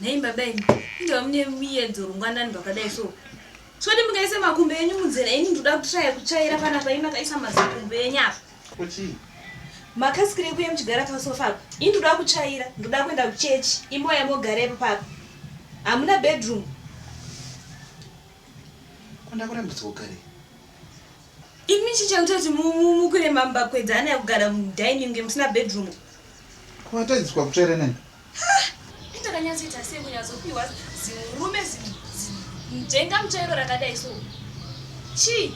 nhai baba imi inga mune muyedzo rungwanani rwakadai so soti mukaisa makumbo enyu munzira ini ndoda kutraya kutsvaira panapa imi makaisa mazikumbo enyu apa Ko chii? Makasikirei kuye muchigara pasofa apa? Ini ndoda kutsvaira, ndoda kuenda kuchechi. Imoya mogara ipo papa. Hamuna bedroom. Ko ndakurambidzwa kugare? Imi chichakuita kuti mukwire mambakwedza ana yakugara mudining ngemusina bedroom. Ko watariswa kutsvaira nani? Ndakanyatsoita sei kunyatsopiwa zimurume zimujenga muchairo rakadai so chii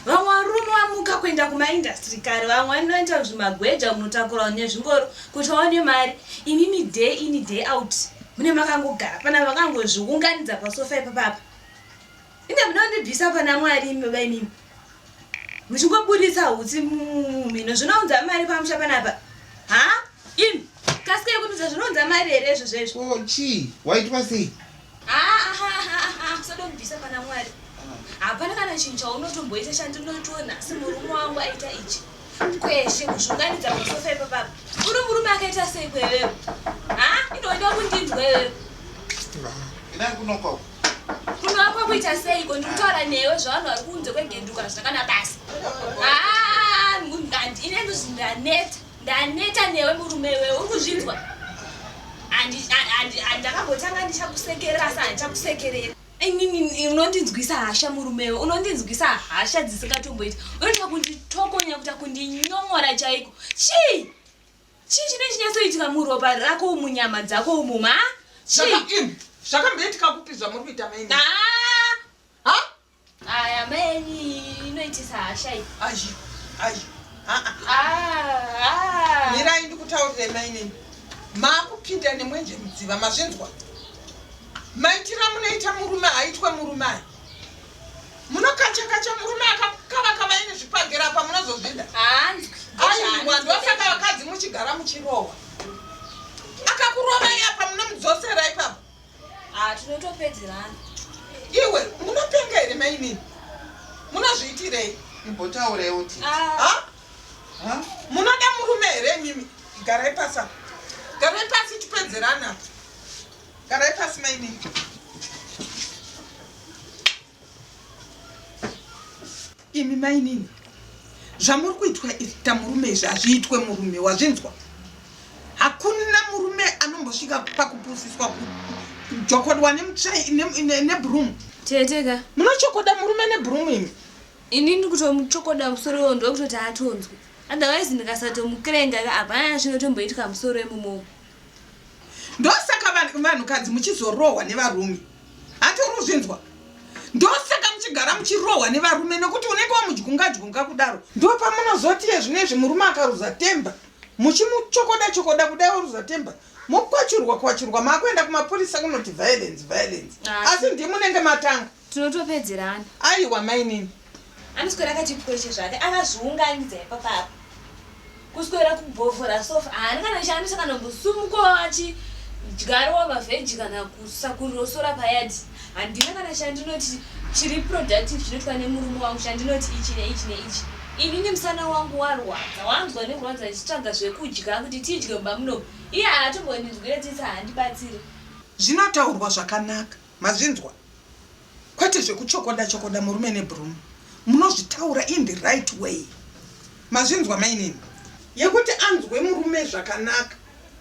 vamwe varume vamuka kuenda kumaindastry kare vamwe vanoita zvimagweja munotakura nezvingoro kuti vaone mari imimi day ini day out mune makangogara pana vakangozviunganidza pasofa ipapapa Ine munondibvisa pana Mwari imi baba imimi. Muchingoburitsa hutsi mumhino zvinounza mari pamusha panapa. Ha? Imi kasika yekunudza zvinounza mari here izvo zvezvo? Ko oh, chii? Waitwa sei? Ha ha ha ha usadondibvisa pana Mwari. Hapana kana chinhu chaunotomboita chandinotoona asi murume wangu aita ichi. Kweshe kuzvunganidza masofa ipapapa. Uri murume akaita sei kwewewe? Ha? Inoda kundinzwa iwewe. Ina kunokoko. Kunoakwa kuita seiko ndikutaura newe zvavanhu vari kunze kwegenduka zvakana basa. Ah, ngandi ine ndozvi ndaneta. Ndaneta newe murume wewe uri kuzvinzwa. Andi andi andakambotanga ndichakusekerera asi handichakusekerera. Inini unondinzwisa hasha murume wewe unondinzwisa hasha dzisingatomboiti. Unoita kunditokonya kuita kundinyomora chaiko. Chii? Chii chinenge chinyatsoitika muropa rako umu nyama dzako umu ma? Chii? Zvakamboitika kupi zvamuri kuita maini? Ah! Ha? Aya maini inoitisa hasha iyi. Ayi. Ayi. Ah. Ah. Mirai ndikutaurire maini. Makupinda nemwenje mudziva mazvinzwa. Maitira munoita murume haitwe murume aya. Munokachakacha murume akakavakava ini zvipagera apa munozozvida. Hanzwi. Aiwa ndosaka vakadzi muchigara muchirohwa. Akakurovai apa munomudzosera ipapa. Ah tinotopedzerana. Iwe munopenga here mainini? Munozviitirei? Imbotaurei uti. Ah. Ha? Munoda murume here mimi? Garai pasa. Garai pasi tipedzerana. Garai pasi mainini. Imi mainini. Zvamuri kuitwa ita murume izvi hazviitwe murume wazvinzwa. Hakuna murume anombosvika pakupusiswa kujokodwa nemutsvai nebroom. Teteka. Munochokoda murume nebroom imi. Ini ndikutomuchokoda musoro iwo ndokutoti atonzwe. Otherwise ndikasatomukirenga hapana chinotomboitwa musoro imomo. ndosaka vanhukadzi muchizorohwa nevarume hati uri kuzvinzwa ndosaka muchigara muchirohwa nevarume nekuti unenge wamudyunga dyunga kudaro ndopamunozoti yezvino izvi murume akaruza temba muchimuchokoda chokoda kudai oruza temba mokwachurwa kwachurwa maakuenda kumapurisa kunoti violence violence asi ndimunenge matanga Tinotopedzerana. Aiwa mainini. Anoswera kachipweche zvake akazviunganidza ipapa apa. Kuswera kubhovhora sofa haana kana chaanoisa kana kusumukawo achi dyarowa mavheji kana kusakurosora payadi handina kana chandinoti chiri productive chinoitwa nemurume wangu chandinoti ichi neichi neichi inini musana wangu warwadza wanzwa nekurwadza ndichitsvaga zvekudya kuti tidye mumba muno iye haatombondinzwira tsitsa handibatsire zvinotaurwa zvakanaka Mazvinzwa kwete zvekuchokoda chokoda murume nebroom munozvitaura in the right way mazvinzwa mainini. Yekuti anzwe murume zvakanaka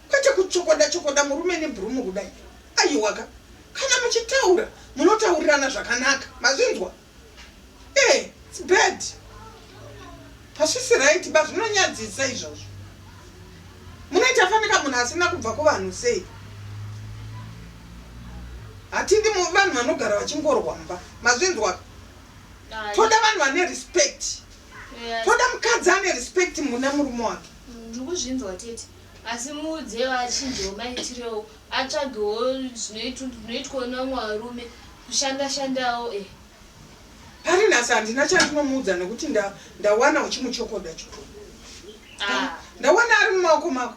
kwete kuchokoda chokoda murume nebroom kudai aiwaka kana muchitaura munotaurirana zvakanaka mazvinzwa. Hey, eh, it's bad. Pasisi right ba zvinonyadzisa izvozvo. Munoita fanika munhu asina kubva kuvanhu sei? Hatidi vanhu vanogara vachingorwa mba. Mazvinzwa? Toda vanhu vane respect. Toda mukadzi ane respect muna murume wake. Ndikuzvinzwa tete. Asi muudze vachinjewo maitirewo. Atsvagewo zvinoitwawo nevamwe varume kushanda shandawo eh. Pari nhasi handina chandinomuudza nekuti nda ndawana uchimuchokoda chikuru. Ah. Ndawana ari mumaoko mako.